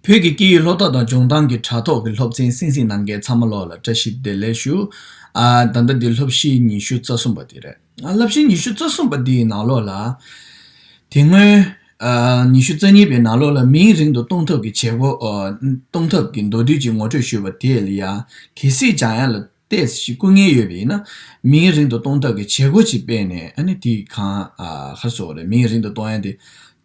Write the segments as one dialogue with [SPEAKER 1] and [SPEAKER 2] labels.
[SPEAKER 1] བོད་ཀྱི་སྐད་ཡིག་སློབ་གྲྭ་དང་ལྗོངས་ཏང་གི་དྲ་ཐོག་གི་སློབ་ཚན་བསྲིངས་བསྲིངས་གནང་མཁན་ཚང་མ་ལོག་ལ་བཀྲ་ཤིས་བདེ་ལེགས་ཞུ། ད་ལྟ་འདི་སློབ་གཞིའི་ཉི་ཤུ་རྩ་གསུམ་པ་དེ་རེད། སླབ་གཞིའི་ཉི་ཤུ་རྩ་གསུམ་པ་དེའི་ནང་ལོག་ལ། དེ་སྔོན། ཉི་ཤུ་རྩ་གཉིས་པའི་ནང་ལོག་ལ་མིང་རིང་དུ་གཏོང་ཐབས་ཀྱི་བྱེད་སྒོ། གཏོང་ཐབས་ཀྱི་མདོ་དུས་ཀྱི་ངོ་སྤྲོད་ཞུས་པ་དེ་ལ་ཡང་གལ་སྲིད་ཅང་ཡང་ལ། ལྟས་ཤིག་བསྐུར་ངེས་ཡོད་པས་ཡིན་ན། མིང་རིང་དུ་གཏོང་ཐབས་ཀྱི་བྱེད་སྒོ་ཅིག་སྤེལ་ནས་ཨ་ནི་དེའི་གང་ཧར་སོགས་རེད་མིང་རིང་དུ་གཏོང་ཡ་དེ།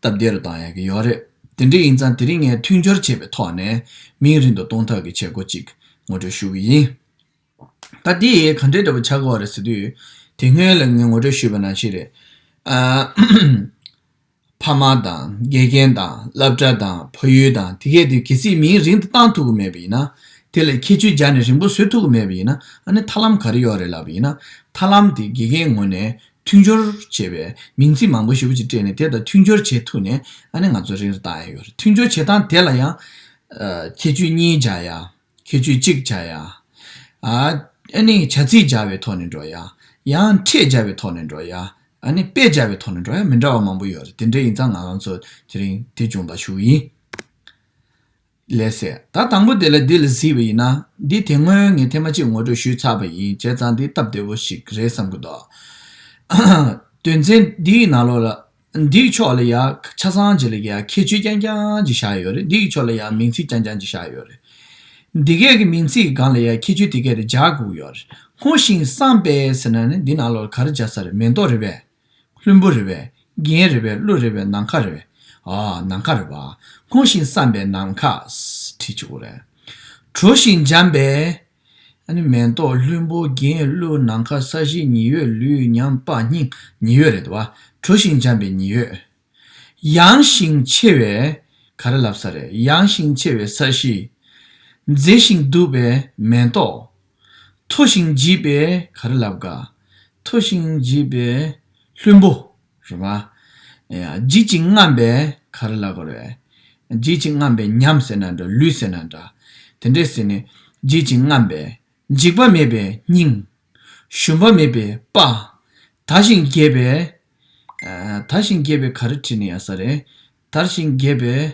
[SPEAKER 1] སྟབས་བདེ་རུ་བཏང་ཡ་གི་ཡོད་རེད། དེ་འདྲ་ཡིན་ཙང་དེ་རིང་ངས་མཐུན་སྦྱོར་བྱས་པའི་ཐོག་ནས་མིང་རིང་དུ་གཏོང་ཐབས་ཀྱི་བྱེད་སྒོ་ཅིག་ངོ་སྤྲོད་ཞུ་གི་ཡིན། ད་དེ་གང་འདྲའི་འདྲ་པོ་ཆགས་ཀོ་རེད་ཟེར་དུས། དེ་སྔོན་ལ་ངས་ངོ་སྤྲོད་ཞུས་པ་ནང་བཞིན་རེད། ཕ་མ་དང་དགེ་རྒན་དང་སླབ་གྲ་དང་ཕ་ཡུལ་དང་དེ་སྐད་དུ་གལ་སྲིད་མིང་རིང་དུ་བཏང་ཐུག་གི་མེད་པ་ཡིན་ན། དེ་ལ་ཁྱད་ཆོས་སྦྱར་ནས་རིང་པོ་བཟོས་ཐུག་གི་མེད་པ་ཡིན་ན་ཨ་ནི་ཐར་ལམ་ག་རེ་ཡོད་རེད་ལབ་པ་ཡིན་ན། ཐར་ལམ་དེ་དགེ་རྒན་ངོ་ནས་མཐུན་སྦྱོར་བྱེད་པའི་མིང་ཚིག་མང་པོ་ཞིབ་པོ་ཅིག་སྤྲད་ནས་དེ་དང་མཐུན་སྦྱོར་བྱེད་ཐུག་ནས་ཨ་ནི་ང་ཚོ་རིང་རེ་བཏང་ཡ་ཡོད་རེད་མཐུན་སྦྱོར་བྱེད་སྟངས་དེ་ལ་ཡང་ཁྱད་ཆོས་གཉིས་སྦྱར་ཡ། ཁྱེད་ཆུ་གཅིག་བྱ་ཡ། ཨ་ནི་བྱ་ཚིག་སྦྱར་བའི་ཐོག་ནས་འགྲོ་ཡ། ཡང་ཁྲེས་སྦྱར་བའི་ཐོག་ནས་འགྲོ་ཡ། ཨ་ནི་དཔེ་སྦྱར་བའི་ཐོག་ནས་འགྲོ་ཡ་མི་འདྲ་བ་མང་པོ་ཡོད་རེད་དེ་འདྲ་ཡིན་ཙང་ང་རང་ཚོ་དེ་རིང་དེ་འབྱུང་བ་ཞུ་ཡིན། ལས་སད། ད་དང་པོ་དེ་ལ་འདི་ལ་གཟིགས་པ་ཡིན་ན། འདི་དེ་སྔོན་ངས་ཐེངས་མ་གཅིག་ངོ་སྤྲོད་ཞུས་ཚར་བ་ཡིན་བྱས་ཙང་འདི་སྟབས་བདེ་བོ་ཞིག་རེད་བསམ་གི་འདུག་དོན་ཚན་འདིའི་ནང་ལོགས་ལ། འདིའི་ཕྱོགས་ལ་ཡང་ཆ་ཚང་གཅིག་ལ་ཡང་ཁྱད་ཆོས་རྐྱང་རྐྱང་གཅིག་བཞག་ཡོད་རེད་འདིའི་ཕྱོགས་ལ་ཡང་མིང་ཚིག་རྐྱང་རྐྱང་གཅིག་བཞག་ཡོད་རེད། འདི་གའི་གི་མིང་ཚིག་གི་སྒང་ལ་ཡང་ཁྱད་ཆོས་དེ་གའི་རེད་སྦྱར་དགོས་ཡོད་རེད་སྔོ་ཞིང་བསངས་པའི་ཟེར་ན་ནི་འདི་ནང་ལོགས་ལ་ག་རེ་སྦྱར་ས་རེད་མེ་ཏོག་རེད་པས། ལྷུན་པོ་རེད་པས། རྒྱན་རེད་པས་གླུ་རེད་པས་ནམ་མཁའ་རེད་པས། ཨ། ནམ་མཁའ་རེད་པ། སྔོ་ཞིང་བསངས་པའི་ནམ་མཁའ། བྲིས་ཆོག་གོ་རེད། དྲོ་ཞིང་འཇམ་པའི། མེ་ཏོག་ལྷུན་པོ་རྒྱན་གླུད་ནམ་མཁའ་ས་གཞི་ཉི་འོད་ལུས་ཉམས་དཔའ་སྙིང་ཉི་འོད་རེད་བ། གྲོ་ཞིང་འཇམ་པའི་ཉི་འོད། ཡངས་ཤིང་ཆེ་བའི། ག་རེ་ལབ་ས་རེད་ཡངས་ཤིང་ཆེ་བའི་ས་གཞི། མཛེས་ཤིང་སྡུག་པའི་མེ་ཏོག། མཐོ་ཞིང་བརྗིད་པའི་ག་རེ་ལབ་ག། མཐོ་ཞིང་བརྗིད་པའི་ལྷུན་པོ། རེད་པ། བརྗིད་ཅིང་རྔམས་པས་ག་རེ་ལ་དགོས་རེད། བརྗིད་ཅིང་རྔམས་པས་ཉམས་ཟེར་ན་འདྲ་ལུས་ཟེར་ན་འདྲ། དེ་འདྲས་ཟེར་ནས་བརྗིད་ཅིང་རྔམས་པས་འཇིགས་པ་མེད་པའི་སྙིང། ཞུམ་པ་མེད་པའི་དཔའ། དར་ཞིང་རྒྱས་པས། དར་ཞིང་རྒྱས་པས་ག་རེ་བྲིས་ནས་ཡ་ས་རེད། དར་ཞིང་རྒྱས་པས།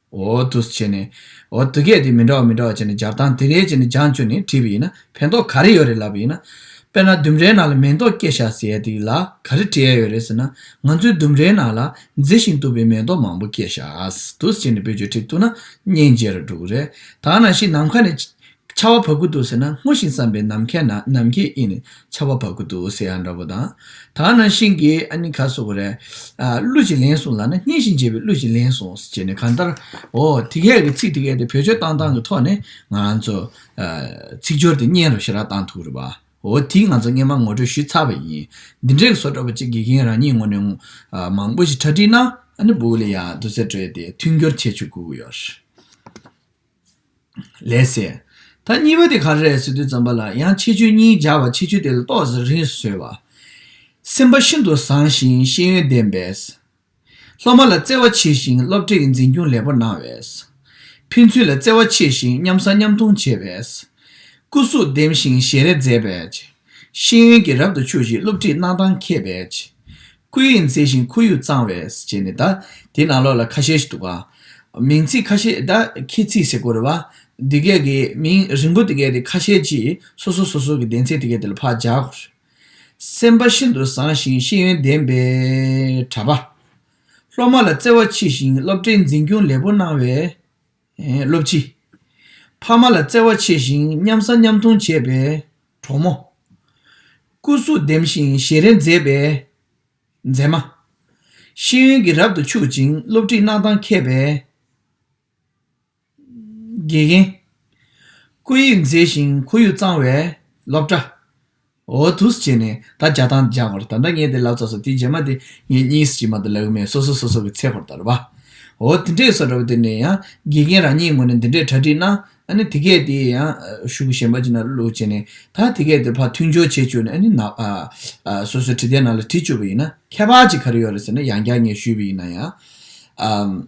[SPEAKER 1] འོ་ཐུགས་ཆེ་ནས། འོ་ཐུགས་སྐད་དེ་མི་འདྲ་བ་མི་འདྲ་བ་བྱས་ནས་སྦྱར་སྟངས་དེ་རེད་ཅེས་ནས་སྦྱངས་བཅུ་ནས་བྲིས་པ་ཡིན་ན་ཕན་ཐོགས་ག་རེ་ཡོད་རེད་ལབ་པ་ཡིན་ན། དཔེར་ན་ལྡུམ་རའི་ནང་ལ་མེ་ཏོག་སྐྱེས་བཞག་ཟེར་ཡས་དེ་ལ་ག་རེ་བྲི་ཡས་ཡོད་རེད་ཟེར་ན། ང་ཚོའི་ལྡུམ་རའི་ནང་ལ་མཛེས་ཤིང་སྟུག་པའི་མེ་ཏོག་མང་པོ་སྐྱེས་བཞག་ཐུགས་ཆེ་ནས་བེད་སྤྱོད་ཁྲིད་ཐུབ་ན་སྙིང་རྗེ་རུ་འདུག་རེད་ད་ནང་བཞིན་ནམ་མཁའ་ནས་ཆར་བ་བབས་ཀྱི་འདུག་ཟེར་ན་སྔོ་ཞིང་བསམ་པའི་ནམ་མཁའི་ནང་ནམ་མཁའི་དབྱིངས་ནས་ཆར་བ་བབས་ཀྱི་འདུག་ཟེར་ཡ་འདྲ་བོ་དང། ད་ང་ནང་བཞིན་གྱི་ཨ་ནི་ག་བཟོ་གི་རེད། གླུ་ཞིག་ལེན་སོང་ལགས་ན་སྙན་ཞིང་འཇེབས་པའི་གླུ་ཞིག་ལེན་སོང་ཟེར་ནས་གང་ལྟར། འོ། དེ་སྐད་གི་ཚིག་དེ་སྐད་དེ་བོད་ཆོས་གཏང་སྟངས་ཀྱི་ཐོག་ནས་ང་ཚོ། ཚིག་སྦྱོར་དེ་སྙན་རུ་ཞེ་དྲག་གཏང་ཐུབ་རེད་པ། འོ་དེ་ང་ཚོ་སྔས་མ་ངོ་སྤྲོད་ཞུས་ཚར་བ་ཡིན། འདི་འདྲའི་བཟོ་བཀྲ་བོ་ཅིག་དགེ་རྒན་རང་ཉིད་ངོ་ནས། མང་པོ་ཞིག་གྲ་སྒྲིག་གནང། ཨ་ནི་བུ་ལི་ཡང་བསྡུ་རྩལ་སྤྲོས་ཏེ་མཐུན་འགྱུར་བྱེད་ཆོག་གུ་གུ་ཡོ། ལས་ཟེར། ད་གཉིས་པ་དེ་ག་རེད་ཟེར་དུས་ཙམ་པ་ལ་ཡང་ཆེ་ཆུང་གཉིས་སྦྱར་བ་ཆེ་ཆུང་དེ་ལ་ལྟོགས་ཟེར་རིང་བཟོས་བ། སེམས་པ་ཤིན་ཏུ་བཟང་ཞིང་ཤེས་ཡོན་ལྡན་པས། སློབ་མ་ལ་བརྩེ་བ་ཆེ་ཞིང་སློབ་གྲྭའི་འཛིན་སྐྱོང་ལེགས་པོ་གནང་བས། ཕན་ཚུན་ལ་བརྩེ་བ་ཆེ་ཞིང་མཉམ་བཟང་མཉམ་མཐོང་བྱས་པས། སྐུ་གཟུགས་ལྡེམ་ཞིང་ཞལ་རས་མཛེས་པས། ཤེས་ཡོན་གྱིས་རབ་ཏུ་ཕྱུག་ཅིང་སློབ་ཁྲིད་གནང་སྟངས་མཁས་པས། ཁུ་ཡིས་མཛེས་ཤིང་ཁུ་ཡུས་གཙང་བས་བྱས་ནས་གདའ། དེའི་ནང་ལོགས་ལ་ཁ་ཤས་ཤིག་འདུག་ག། མིང་ཚིག་ཁ་ཤས་གདའ། ཁྱེད་ཚིག་ཟེར་དགོས་རེད་བ། འདི་སྐད་ཀྱི་མིང་རིང་པོ་འདི་སྐད་དེ་ཁ་ཤས་ཀྱིས་སོ་སོ་སོ་སོ་གྱི་གདན་ཚིག་དེ་སྐད་དེ་ལ་ཕག་རྒྱག་དགོས་རེད། སེམས་པ་ཤིན་ཏུ་བཟང་ཞིང་ཤེས་ཡོན་ལྡན་པའི་གྲྭ་པ། སློབ་མ་ལ་བརྩེ་བ་མཆིས་ཤིང་སློབ་གྲྭའི་འཛིན་སྐྱོང་ལེགས་པོ་གནང་བས། སློབ་སྤྱི། ཕ་མ་ལ་བརྩེ་བ་ཆེ་ཞིང་མཉམ་ཟ་མཉམ་འཐུང་བྱེད་པའི་གྲོགས་མོ། སྐུ་གཟུགས་ལྡེམ་ཞིང་ཞེ་རེ་མཛེས་པའི་མཛེས་མ། ཤེས་ཡོན་གྱིས་རབ་ཏུ་ཕྱུག་ཅིང་སློབ་ཁྲིད་གནང་སྟངས་མཁས་པའི་དགེ་རྒན། སྐུ་ཡིག་མཛེས་ཤིང་ཁོར་ཡུག་གཙང་བའི་སློབ་གྲྭ། འོ་ཐུགས་བྱས་ནས་ད་བརྒྱ་དང་བརྒྱ་བར་ད་འདྲ་ངས་དེ་ལབ་ཙ་སོ་དེ་རྗེས་མ་དེ་ངས་གཉིས་སུ་གྱིས་མ་ད་ལབ་གི་མེད་སོ་སོ་སོ་སོ་གི་ཚེ་བར་དར་བ། འོ་དེ་འདྲས་སོ་འདྲ་བ་དེ་ནས་ཡང་དགེ་རྒན་རང་ཉིད་ངོ་ནས་འདི་འདྲས་གྲ་སྒྲིག་གནང་ཨ་ནི་དེ་གས་དེ་ཡང་གཞུག་གཞན་པ་ཅིག་ན་ལུག་བྱས་ནས་ད་དེ་གས་དེ་ཕར་མཐུན་སྦྱོར་བྱས་བཅུག་ནས་ཨ་ནི་ནག་སོ་སོའི་གྲི་དེ་ནང་ལ་དྲིས་བཅུག་པ་ཡིན་ན་ཁྱད་པར་ཅིག་ག་རེ་ཡོད་རེད་ཟེར་ན་ཡང་བསྐྱར་ངས་ཞུས་པ་ཡིན་ན་ཡང།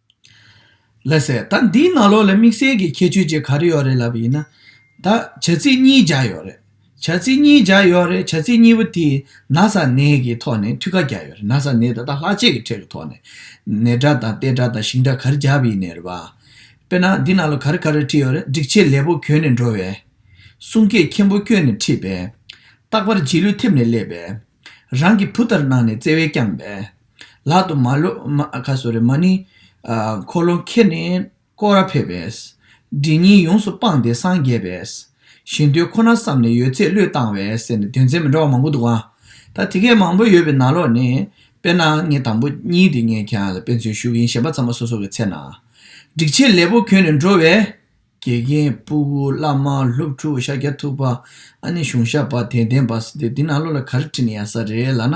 [SPEAKER 1] ལེ་སེ། ད་འདིའི་ནང་ལོགས་ལ་དམིགས་བསལ་གྱི་ཁྱད་ཆོས་ཅིག་ག་རེ་ཡོད་རེད་ལབ་པ་ཡིན་ན། ད་བྱ་ཚིག་གཉིས་སྦྱར་ཡོད་རེད། བྱ་ཚིག་གཉིས་སྦྱར་ཡོད་རེད་བྱ་ཚིག་གཉིས་པོ་དེས་ན་ས་ནས་ཀྱི་ཐོག་ནས་ཐུགས་ཁ་རྒྱག་ཡོད་རེད་ན་ས་ནས་ད་ལྟ་ལྷག་ཆད་ཀྱི་ཁྲོད་ཀྱི་ཐོག་ནས་ནས་སྒྲ་དང་ཏེ་སྒྲ་དང་ཞིང་སྒྲ་ག་རེ་སྦྱར་བ་ཡིན་ནས་རེད་པ། དཔེར་ན་འདི་ནང་ལོགས་ག་རེ་ག་རེ་བྲིས་ཡོད་རེད་སྒྲིག་ཆས་ལེགས་པོ་གྱོན་ནས་འགྲོ་བས། གསུང་སྐད་མཁན་པོ་བསྐྱོན་ནས་ཁྲིད་པས། རྟག་པར་རྗེས་ལུས་ཐེབས་ནས་སླེབས་པས། རང་གི་བུ་ལྟར་གནང་ནས་བརྩེ་བས་བསྐྱངས་པས། ལག་ཏུ་མ་ནི། འཁོར་ལོ་ཁྱེར་ནས་བསྐོར་བར་ཕེབས་པས། སྒྲིབ་གཉིས་ཡོངས་སུ་སྤངས་ཏེ་སངས་རྒྱས་པས། ཞིང་དུད་ཁོ་ན་བསམས་ནས་ཡོད་ཚད་བློས་བཏང་བས་ཟེར་ནས་དོན་ཚན་མི་འདྲ་བ་མང་པོ་འདུག་ཨང། ད་དེ་སྐད་མང་པོ་ཡོད་པའི་ནང་ལོགས་ནས། དཔེར་ན་ངའི་དང་པོ་གཉིས་དེ་ངས་ཁྱེད་རང་ལ་དཔེ་མཚོན་ཞུ་གི་ཡིན་ཞེས་པ་ཚང་མ་སོ་སོ་གི་ཚེ་ན། སྒྲིག་ཆས་ལེགས་པོ་གྱོན་ནས་འགྲོ་བས། དགེ་རྒན་སྤུ་བོ་བླ་མ་སློབ་ཕྲུག་ཤཱཀྱ་ཐུབ་པ་ཨ་ནེ་གཞུང་ཞབས་པ་དད་ལྡན་པ་སི་ཏུ་འདི་ནང་ལོ་ལ་ག་རེ་བྲིས་ནས་ཡ་ས་རེད་ལ་ན།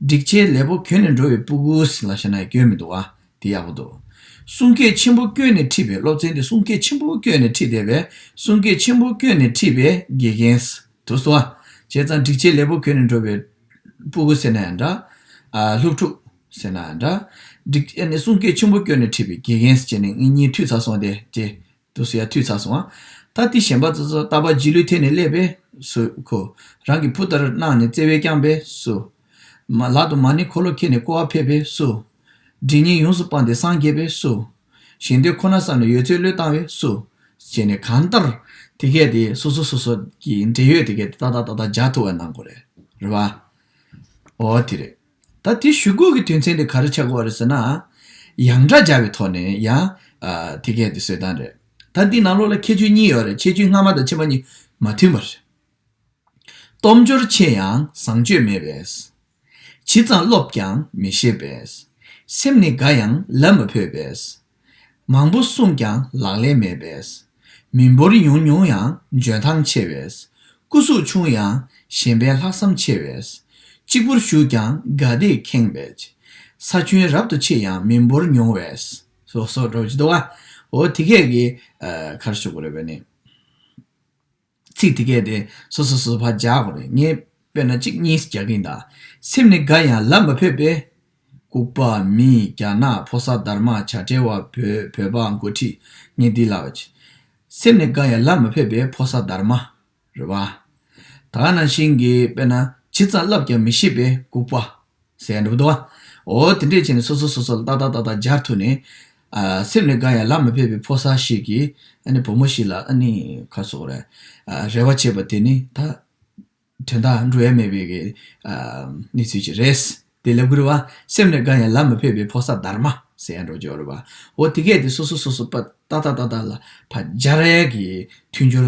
[SPEAKER 1] སྒྲིག་ཆས་ལས་པོ་གྱོན་ནས་འགྲོ་བའི་སྤུ་བོ་སི་ལ་ཤ་ན་ཡ་སྐྱོན་མི་འདུག་ཨ་དེ་ཡག་པོ་འདུག། གསུང་སྐད་ཆེན་པོ་བསྐྱོན་ནས་ཁྲིད་པའི་སློབ་ཚན་དེ་གསུང་སྐད་ཆེན་པོ་བསྐྱོན་ནས་ཁྲིད་བསྡད་པས་གསུང་སྐད་ཆེན་པོ་བསྐྱོན་ནས་ཁྲིད་པའི་དགེ་རྒན་སི་ཏུ་སོ་ཨ་བྱས་ཙང་སྒྲིག་ཆས་ལས་པོ་གྱོན་ནས་འགྲོ་བའི་སྤུ་བོ་སི་ན་ཡ་འདྲ། སློབ་ཕྲུག། ཟེར་ན་འདྲ། འགྲིག་ཨེ་ནི་གསུང་སྐད་ཆེན་པོ་བསྐྱོན་ནས་ཁྲིད་པའི་དགེ་རྒན་ཟེར་ནས་ངེད་གཉིས་འཐུས་ཚར་སོང་སྟེ་རྗེས་དུ་སུ་ཡང་འཐུས་ཚར་སོང། ད་ལྟའི་གཞན་པ་ཚོ་ཚོ་ལྟ་བ་རྗེས་ལུས་ཐད་ནས་སླེབས་པས་སུ། ཁོ་རང་གི་བུ་ལྟར་གནང་ནས་བརྩེ་བས་བསྐྱངས་པས་སུ། ལག་ཏུ་མ་ཎི་འཁོར་ལོ་འཁྱེར་ནས་བསྐོར་བ་ཕེབས་པས་སུ། འདྲིས་ཉེས་ཡོངས་སུ་སྤངས་ཏེ་སངས་རྒྱས་པས་སུ། ཞིང་དེ་ཁོ་ན་བསམ་ནས་ཡོད་ཚད་བློས་བཏང་བས་སུ། ཅེས་ནས་གང་ལྟར་དེ་སྐད་དེ་སོ་སོ་སོ་སོ་ཀྱི་འབྲེལ་ཡོད་དེ་སྐད་དེ་ཏག་ཏག་ཏག་ཏག་སྦྱར་ཐུབ་པ་གནང་དགོས་རེད་བ། འོ་དེ་རེད། ད་དེ་ཞུ་སྒོ་གི་དོན་ཚན་དེ་ག་རེ་ཆགས་དགོས་རེད་ཟེར་ན། ཡང་སྒྲ་སྦྱར་བའི་ཐོག་ནས་ཡང། དེ་སྐད་དེ་བཟོས་སྟངས་རེད། ད་འདི་ནང་ལོགས་ལ་ཁྱད་ཆོས་གཉིས་ཡོད་རེད་ཁྱད་ཆོས་སྔ་མ་དང་ཕྱི་མ་གཉིས་མ་མཐུན་པ་རེད། སྟོབས་འབྱོར་ཆེ་ཡང་བཟང་སྤྱོད་མེད་པས། ཇི་ཙམ་སློབ་ཀྱང་མི་ཤེས་པས། སེམས་ནི་དགའ་ཡང་ལབ་མ་ཕོད་པས། མང་པོ་གསུངས་ཀྱང་ལག་ལེན་མེད་པས། མི་འབོར་ཡང་ཉུང་ཡང་འཇོན་ཐང་ཆེ་བས། སྐུ་གཟུགས་ཆུང་ཡང་ཞེན་པའི་ལྷག་བསམ་ཆེ་བས། གཅིག་པུར་བཞུགས་ཀྱང་དགའ་བདེས་ཁེངས་པས། ས་ཁྱོན་རབ་ཏུ་ཆེ་ཡང་མི་འབོར་ཉུང་བས། སོགས་སོགས་སྒྲོག་ཅི་ཏོ། འོ་དེ་སྐད་ཀྱིས་གར་བཞུགས་པར་རེ་བས་ནི། ཚིག་དེ་གས་ཏེ་སོ་སོ་སོ་སོ་བར་སྦྱར་དགོས་རེད་ངས་དཔེར་ན་གཅིག་གཉིས་རྒྱག་གིན་གདའ། སེམས་ནི་དགའ་ཡང་ལབ་མ་ཕོད་པས། ལྐུགས་པ་མིས་རྒྱ་ནག་ཕོ་སར་དར་མ་བྱ་བྲལ་བ་བོས་བོད་པ་མགོ་ཁྲིད་ངས་འདི་ལབ། སེམས་ནི་དགའ་ཡང་ལབ་མ་ཕོད་པས་ཕོ་སར་དར་མ། རེད་བ། ད་ག་ནང་བཞིན་གྱི་དཔེར་ན་ཇི་ཙམ་ལབ་ཀྱང་མི་ཤེས་པས་ལྐུགས་པ། ཟེར་འགྲོ་བ། འོ་དེ་འདྲས་བྱས་ནས་སོ་སོ་སོ་སོ་ལ་ཏག་ཏག་ཏག་ཏག་སྦྱར་ཐུབ་ནས། སེམས་ལས་འགའ་ཡང་ལག་མི་ཕེབས་པའི་ཕོ་གསར་ཞིག་གིས་ཨ་ནི་བུ་མོ་ཞིག་ལ་ཨ་ནི་ཁ་སོགས་རེ་རེ་བ་བྱས་པ་དེ་ནི་ད་དོན་དག་འགྲོ་ཡ་མེད་པའི་གནས་ཚུལ་ཞིག་རེད། དེ་ལས་བསྐུར་བ། སེམས་ལས་འགའ་ཡང་ལག་མི་ཕེབས་པའི་ཕོ་གསར་དར་མ། ཟེར་འགྲོ་བྱུང་རེད་བ། འོ་དེ་སྐད་དེ་སོ་སོ་སོ་སོ་ལ་ཏག་ཏག་ཏག་ཏག་ལ་ཕ་སྦྱར་གྱི་མཐུན་སྦྱོར་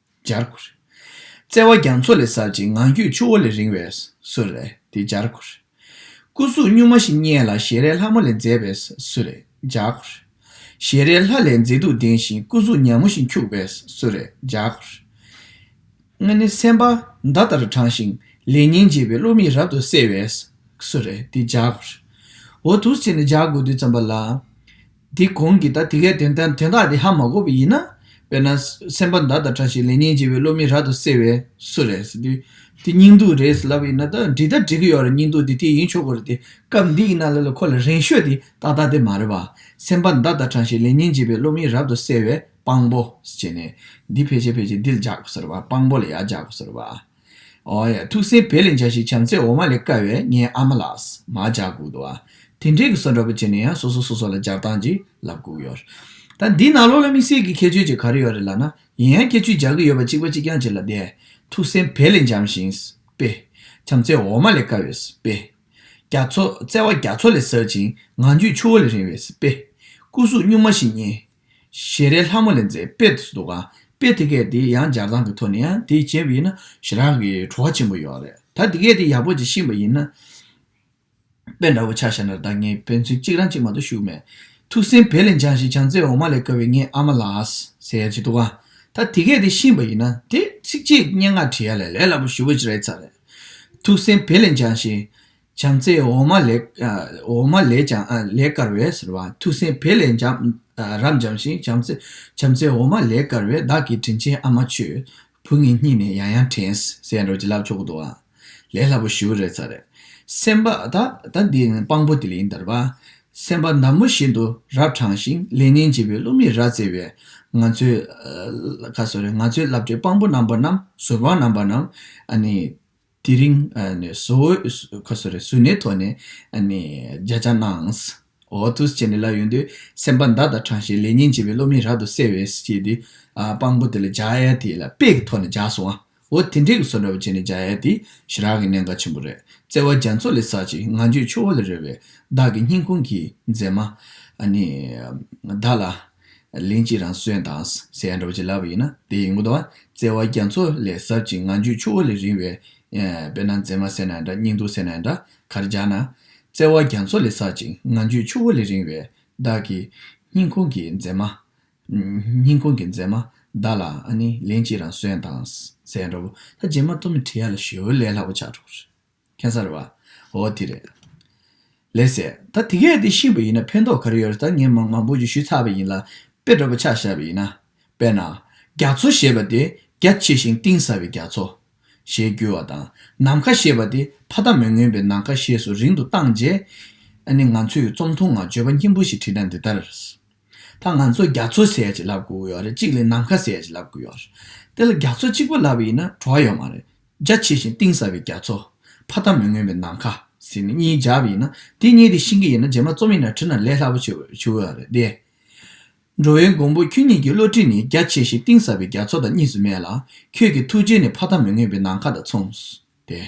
[SPEAKER 1] སྦྱར་དགོས། བརྩེ་བ་རྒྱ་མཚོ་ལས་ཟབ་ཅིང་ངང་རྒྱུད་ཆུ་བོ་ལས་རིང་བས་སུ་རེད་དེ་སྦྱར་དགོས། སྐུ་གཟུགས་གཉུག་མ་བཞིན་སྙན་ལ་ཞལ་རས་ལྷ་མོ་ལས་མཛེས་པས་སུ་རེད་སྦྱར་དགོས། ཞལ་རས་ལྷ་ལས་མཛེས་སྡུག་ལྡན་ཞིང་སྐུ་གཟུགས་ཉག་མོ་བཞིན་འཁྱུག་པས་སུ་རེད་སྦྱར་དགོས། ལྔ་ནི་སེམས་དཔའ་མདའ་ལྟར་དྲང་ཞིང་ལས་སྙིང་རྗེ་བའི་བློ་མིག་རབ་ཏུ་གསལ་བས་སུ་རེད་དེ་སྦྱར་དགོས། འོ་ཐུགས་ཚིག་ནི་སྦྱར་དགོས་དུས་ཙམ་པ་ལ། དེ་གོང་གི་ད་དེ་གའི་དོན་དམ་དོན་དགག་དེ་ཧ་མ་གོ་བ་ཡིན་ན། དཔེར་ན། སེམས་པ་མདའ་དང་ཕྲ་ཞིང་ལེགས་ཉེས་འབྱེད་པའི་བློ་མིག་རག་ཏུ་གསལ་བས་སུ་རེད། དེ་སྙིང་སྡུག་རེད་ལབ་ཡིན་ན་ད་འབྲི་ད་འབྲི་གི་ཡོད་རེད་སྙིང་སྡུག་དེ་དེ་ཡིན་ཆོག་གི་རེད་དེ། སྐབས་འདི་ཡིན་ན་ལ་ལ་ཁོ་ལ་རེན་ཤོས་དེ་ཏག་ཏག་དེ་མ་རེད་པ། སེམས་པ་མདའ་དང་ཕྲ་ཞིང་ལེགས་ཉེས་འབྱེད་པའི་བློ་མིག་རབ་ཏུ་གསལ་བས་དཔང་པོ། བྱས་ནས། འདི་ཕལ་ཆེར་ཕལ་ཆེར་འདི་ལ་རྒྱག་དགོས་ཟེར་བ། དཔང་པོ་ལ་ཡར་རྒྱག་དགོས་ཟེར་བ། ཐུགས་སྲས་བེ་ལེ་འཇའ་ཞིག་བྱམས་བརྩེས་འོ་མ་ལས་བཀལ་བས་ངའི་ཨ་མ་ལགས། མ་བཅའ་བསྒུགས་འདུག་ཨ། དེ་འབྲེལ་གྱི་སོ་འདྲ་པོ་བྱས་ནས་ཡང་སོ་སོ་སོ་སོ་ལ་སྦྱར་སྟངས་ཀྱིས་ལབ་བསྒུགས་ཡོད། ད་འདི་ནག་ལོ་ལ་དམིགས་བསལ་གྱི་ཁྱད་ཆོས་ཅིག་ག་རེ་ཡོད་རེད་ལབ་ན་ཡིན་ཡང་སྐྱེ་ཆུས་སྦྱར་གྱི་ཡོད་པ་གཅིག་པ་གཅིག་རྐྱང་གཅིག་ལ་བསྡད། ཐུགས་སྲས་བེ་ལེ་འཇམ་ཞིང། བེ། བྱམས་བརྩེས་འོ་མ་ལས་བཀལ་བས། བེ། རྒྱ་མཚོ། བརྩེ་བ་རྒྱ་མཚོ་ལས་ཟབ་ཅིང་ངང་རྒྱུད་ཆུ་བོ་ལས་རིང་བས། བེ། སྐུ་གཟུགས་སྨྱུག་མ་བཞིན་སྙན། ཞལ་རས་ལྷ་མོ་ལས་མཛེས་དཔེ་དུ་འདུག་ག་དཔེ་དེ་གས་དེ་ཡང་སྦྱར་སྟངས་ཀྱི་ཐོག་ནས་ཡང་དེ་བྱས་པ་ཡིན་ན་ཞི་རག་གི་བྲོ་བ་ཆེན་པོ་ཡོད་རེད་ད་དེ་གས་དེ་ཡག་པོ་ཅིག་ཤིས་པ་ཡིན་ན། དཔེ་འདྲ་བོ་ཆགས་ཤར་ན་ད་ངས་དཔེ་མཚོན་གཅིག་རང་གཅིག་མ་གཏོགས་ཞུགས་མེད། ཐུགས་སེམས་བལ་ལེ་འཇང་ཞིག་བྱང་རྩེ་འོ་མ་ལས་བསྐལ་བའི་ངའི་ཨ་མ་ལགས། ཟེར་གྱི་འདུག་ག་ད་དེ་གས་དེ་ཤིས་པ་ཡིན་ན་དེ། ཚིགས་བཅད་སྙན་ངག་བྲིས་ཡ་ལས་ལས་སླ་པོ་ཞུ་གི་རེད་ཚར་རེད། ཐུགས་སེམས་བལ་ལེ་འཇང་ཞིག། བྱམས་བརྩེ་འོ་མ་ལས་ཀྱང་ལེགས་དཀར་བས་ཟེར་བ། ཐུགས་སེམས་བལ་ལས་རབ་འཇམ་ཞིང་བྱམས་བརྩེ་འོ་མ་ལས་དཀར་བས་བདག་གི་དྲིན་ཆེན་ཨ་མ་ཁྱོད་བུ་ངའི་སྙིང་ནས་ཡང་ཡང་དྲན། ཟེར་ནས་རོ་གཅིག་ལབ་ཆོག་གི་འདུག་ཨ། ལས་སླ་པོ་ཞུ་གི་རེད་ཚར་རེད། སེམས་པ་ད་ད་འདི་དཔང་པོ་དེ་ལས་ཡིན་དར་བ། སེམས་པ་ནམ་མོ་བཞིན་དུ་རབ་དྲང་ཞིང་ལས་ངན་བྱེད་པའི་བསླུ་མེད་རྭ་རྩེ་བས་ང་ཚོའི་བསླབ་བྱའི་དཔང་པོ་རྣམ་པ་རྣམས་ཟུར་དཔང་རྣམ་པ་རྣམས། དེ་རིང་སུའུ་ནེ་ཐོ་ནས་བརྒྱ་ཆ་གནང། འོ་ཐུགས་ཆེ་ནས་ལབ་ཡོང་དུས་སེམས་པ་མདའ་དང་དྲངས་ཤིང་ལས་ཉན་བྱེད་པའི་བློ་མིག་རབ་ཏུ་གསལ་བས་ཅི་སྟེ། དཔང་པོ་དེ་ལ་རྒྱ་ཡལ་དེ་ལ་དཔེ་གི་ཐོག་ནས་རྒྱག་སོང་ཨ། འོ་དེ་འདྲའི་གི་སོ་འདྲ་བོ་བྱས་ནས་རྒྱ་ཡལ་དེ་ཞི་རག་གི་གནད་འགག་ཆེན་པོ་རེད། བརྩེ་བ་རྒྱ་མཚོ་ལས་བསགས་ཅིག་ང་འཇོས་ཆུ་བོ་ལས་རོལ་བའི་བདག་གི་སྙིང་ཁུང་གི་མཛེས་མ། བདག་ལ། གླིང་གཅིག་རང་གསོན་དང་ཟས་འདྲ་བོ་ཅིག་ལབ་པ་ཡིན་ན་དེ་ཡིན་གོ་ད་བར་བརྩེ་བ་རྒྱ་མཚོ་ལས་ཟབ་ཅིང་ངང་རྒྱུད་ཆུ་བོ་ལས་རིང་བའི། དཔེར་ན་མཛེས་མ་བསད་ན་འདྲ་སྙིང་སྡུག་བསད་ན་འདྲ་གར་སྦྱར་ན། བརྩེ་བ་རྒྱ་མཚོ་ལས་ཟབ་ཅིང་ངང་རྒྱུད་ཆུ་བོ་ལས་རིང་བའི་བདག་གི། སྙིང་ཁོང་གི་མཛེས་མ། སྙིང་ཁོང་གི་མཛེས་མ་བདག་ལ་ནི་གླིང་གཅིག་རང་གསོན་དང་ཟས་འདྲ་བོ། ད་རྗེས་མ་སྟོད་མི་ཁྲི་ཡར་ལ་ཞོལ་ལས་ལྷག་པ་ཆགས་འགྲོ་གི་རེད། ཁྱད་མཚར་བ། འོ་དེ་རེད། ལེགས་ཟེར། ད་དེ་གས་དེ་ཤི་བ་ཡིན་ན་ཕན་ཐོག་ག་རེ་ཡོད་རེད་ད་ངས་མང་མང་པོ་ཞིག་ཞུས་ཚར་བ་ཡིན་ལ་དཔེ་སྒྲོ་པོ་ཆགས་བཞག་པ་ཡིན་ན། དཔེར་ན། རྒྱ་མཚོ་ཞེས་པ་དེ་རྒྱ་ཆེ་ཞིང་གཏིང་ཟབ་པའི་རྒྱ་མཚོ། ཞེས་བསྒྱུར་བ་དང། ནམ་མཁའ་ཞེས་པ་དེ་ཕ་མཐའ་མི་མངོན་པའི་ནམ་མཁའ་ཞེས་སུ་རིང་དུ་བཏང་རྗེས། ཨ་ནི་ང་ཚོས་རྩོམ་ཐུང་ངང་བརྗོད་པ་སྙན་པོ་ཞིག་བྲིས་ན་འདི་ལྟར། ད་ང་ཚོ་རྒྱ་མཚོ་ཟས་ཀྱི་ལབ་དགོས་ཀྱི་ཡོད་རེད་གཅིག་ལས་ནམ་མཁའ་ཟས་ཀྱི་ལབ་དགོས་ཀྱི་ཡོད་རེད། དེ་ལ་རྒྱ་མཚོ་གཅིག་པོ་ལབ་ཡིན་ན་གྲོགས་ཡོད་མ་རེད། རྒྱ་ཆེ་ཞིང་གཏིང་ཟབ་པའི་རྒྱ་མཚོ། ཕ་ད་མི་མངོན་པའི་ནམ་མཁའ་ཟེར་ནས་གཉིས་བརྒྱབ་ཡིན་ན་དེ་གཉིས་དེ་ཤིང་གི་ཡིན་ན་རྗེས་མ་རྩོམ་ཡིན་ན་བྲིས་ན་ལས་སླ་པོ་བྱུང་ཡོད་རེད་དེ། འགྲོ་བའི་མགོན་པོ་ཁྱོད་གཉིས་ཀྱི་བློ་གྲོས་ནི་རྒྱ་ཆེ་ཞིང་གཏིང་ཟབ་པའི་རྒྱ་མཚོ་དང་གཉིས་སུ་མེད་ལ་ཁྱོད་ཀྱི་ཐུགས་རྗེ་ནི་ཕ་ད་མི་མངོན་པའི་ནམ་མཁའ་དང་མཚུངས། དེ།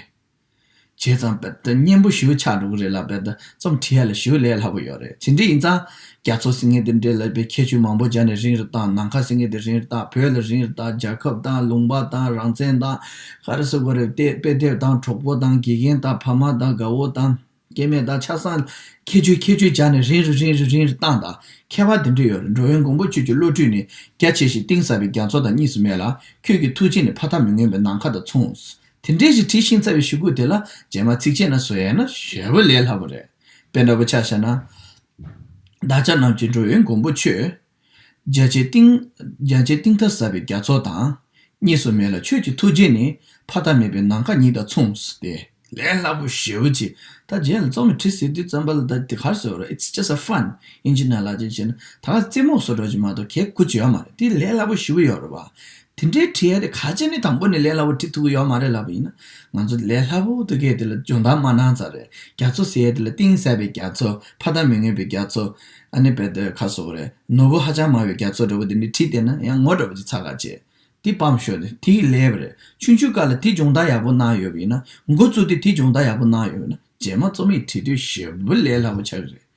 [SPEAKER 1] བྱས་ཙང་བེད་སྤྱོད་སྙན་པོ་ཞུ་ཆགས་འགྲོ་གི་རེད་ལ་བེད་རྩོམ་བྲིས་ཡ་ལ་ཞུ་ལས་སླ་པོ་ཡོད་རེད་ཇི་འདྲའི་ཡིན་ཙང་རྒྱ་མཚོ་ཟིང་ངེ་དེ་འདྲའི་ལབ་པའི་ཁྱད་ཆོས་མང་པོ་སྦྱར་ནས་རིང་རེ་བཏང་ནམ་མཁའ་ཟིང་ངེ་དེ་རིང་རེ་བཏང་བོད་ལ་རིང་རེ་བཏང་རྒྱལ་ཁབ་བཏང་ལུང་པ་བཏང་རང་བཙན་བཏང་ཧ་རེ་སོ་གོ་རེ་བལྟས་དཔེ་དེབ་བཏང་གྲོགས་པོ་བཏང་དགེ་རྒན་བཏང་ཕ་མ་བཏང་དགའ་བོ་བཏང། སྐྱེ་མེད་དང་ཆགས་སང་ཁྱད་ཆོས་ཁྱད་ཆོས་སྦྱར་ནས་རིང་རེ་རིང་རེ་རིང་རེ་བཏང་དང་ཁྱད་པར་དེ་འདྲ་ཡོད་རེད་འགྲོ་བའི་མགོན་པོ་ཁྱོད་ཀྱི་བློ་གྲོས་ནི་རྒྱ་ཆེ་ཞིང་གཏིང་ཟབ་པའི་རྒྱ་མཚོ་དང་གཉིས་སུ་མེད་ལ་ཁྱོད་ཀྱི་ཐུགས་རྗེ་ནི་ཕ་མཐའ་མི་མངོན་པའི་ནམ་མཁའ་དང་མཚུངས། དེ་འདྲའི་ཞིག་བྲིས་ཤིང་རྩ་བའི་ཞུ་སྒོ་དེ་ལ་རྗེས་མ་ཚིག་བཅད་ན་བཟོ་ཡས་ན་ཞེས་པ་ལས་སླ་པོ་རེད། དཔེ་འདྲ་པོ་ཆགས་བྱས་ན། བདག་ཅག་རྣམས་ཀྱིས་འགྲོ་བའི་མགོན་པོ་ཁྱོད། རྒྱལ་བྱེད་གཏིང། རྒྱལ་བྱེད་གཏིང་མཐའ་ཟབ་པའི་རྒྱ་མཚོ་དང། གཉིས་སུ་མེད་ལ་ཆོས་ཀྱི་ཐུགས་རྗེ་ནི། ཕ་མཐའ་མེད་པའི་ནམ་མཁའ་ཉིད་དང་མཚུངས། ཏེ། ལས་སླ་པོ་ཞེའུ་ཅི། ད་རྗེས་ལ་ཙོག་མི་ཁྲི་སིའི་དུས་བརྩམས་པ་ལ་ད་དེ་གར་སོ་ར It's just a fun ཡིན་གྱི་ན་ལ་ཅི་བྱེད་ན་ད་ག་རྩེད་མོ་སོགས་སྒྲོག་གྱི་མ་གཏོགས་གལ་སྐུ་བྱེད་ཡོ་མ་རེད་དེ་ལས་སླ་པོ་ཞེའུ་ཡོ་ར་བ། དེ་འདྲའི་བྲིས་ཡ་དེ་ག་ཅེ་ནི་དང་པོ་ནས་ལས་སླ་བོ་བྲིས་ཐུབ་ཀྱི་ཡོད་མ་རེད་ལབ་པ་ཡིན་ན་ང་ཚོ་ལས་སླ་བོ་ཐུགས་ཁས་དེ་ལ་སྦྱོང་བརྡར་མ་གནང་ཚར་རེད་རྒྱ་མཚོ་ཟེར་ཡ་དེ་ལ་གཏིང་གསལ་བའི་རྒྱ་མཚོ་ཕ་མཐའ་མི་མངོན་པའི་རྒྱ་མཚོ་ཨ་ནི་བལ་དོའི་ཁ་སོག་རེད་ནོར་བུ་ཧ་ཅང་མང་བའི་རྒྱ་མཚོ་འདྲ་བོ་དེ་འདྲས་བྲིས་བསྡད་ན་ཡང་ངོ་འདྲ་བོ་ཅིག་ཚར་ག་ཅེ། དེ་སྤམ་ཤོག་དེ་དེ་ཡི་ལས་རེད་ཆུང་ཆུང་དཀར་ལ་དེ་སྦྱོང་བརྡར་ཡག་པོ་གནང་ཡོད་པ་ཡིན་ན་འགོ་བཙུགས་ཏེ་དེ་སྦྱོང་བརྡར་ཡག་པོ་གནང་ཡོད་པ་ན་རྗེས་མ་རྩོམ་ཡིག་བྲིས་དུས་ཞེ་པོ་ལས་སླ་བོ་ཆགས་ཀྱི་རེད་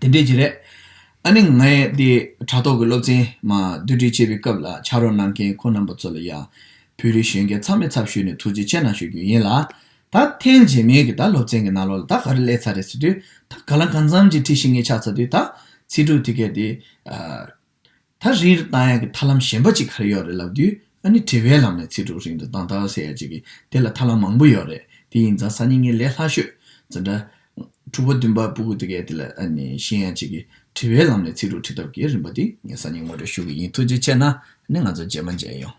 [SPEAKER 1] དེ་འདྲས་ཀྱི་རེད། ཨ་ནི་ངས་དེ་དྲ་ཐོག་གི་སློབ་ཚན་མ་བསྡུ་སྒྲིག་བྱེད་པའི་སྐབས་ལ་ཕྱག་རོགས་གནང་མཁན་ཁོ་རྣམ་པ་ཚོ་ལ་ཡང་བོད་རིགས་གཞོན་སྐྱེས་ཚང་མས་ཚབ་ཞུས་ནས་ཐུགས་རྗེ་ཆེ་གནང་ཞུ་རྒྱུ་ཡིན་ལ། ད་ཐེངས་རྗེས་མའི་གི་ད་སློབ་ཚན་གི་ནང་ལོག་ལ་ད་ག་རེ་གླས་ཚར་རེད་ཟེར་དུས་ད་ག་ལ་གང་འཚམ་གྱི་ཁྲིད་ཤིག་ངས་ཆགས་ཚར་དུས་ད་ཚིག་དྲུག་དེ་གས་དེ། ད་རེས་རི་ཏང་ཡག་གི་ཐར་ལམ་གཞན་པ་གཅིག་གར་ཡོད་རེད་ལབ་དུས་ཨ་ནི་བྲེལ་བའི་ལམ་ནས་ཚིག་དྲུག་རིང་དུ་དྭངས་ཐང་ཟེར་ཡག་ཅིག་གི་དེ་ལ་ཐར་ལམ་མང་པོ་ཡོད་རེད་དེ་ཡིན་ཙང་གསར་རྙིང་གི་ལས་སླ་ཤོས་འཛིན་གྲྭ། དྲུག་པ་བདུན་པ་སྤུ་གུ་དེ་གའི་དེ་ལ་ཨ་ནི་ཤེས་ཡག་ཅིག་གི་བྲེལ་བའི་ལམ་ནས་ཚིག་དྲུག་ཁྲིད་ཐབས་ཀྱི་རིམ་པ་འདི་ངས་གསར་རྙིང་ངོ་སྤྲོད་ཞུ་གི་ཡིན་ཐུགས་རྗེ་ཆེ་ན་ནི་ང་ཚོ་རྗེས་མ་མཇལ་ཡོང།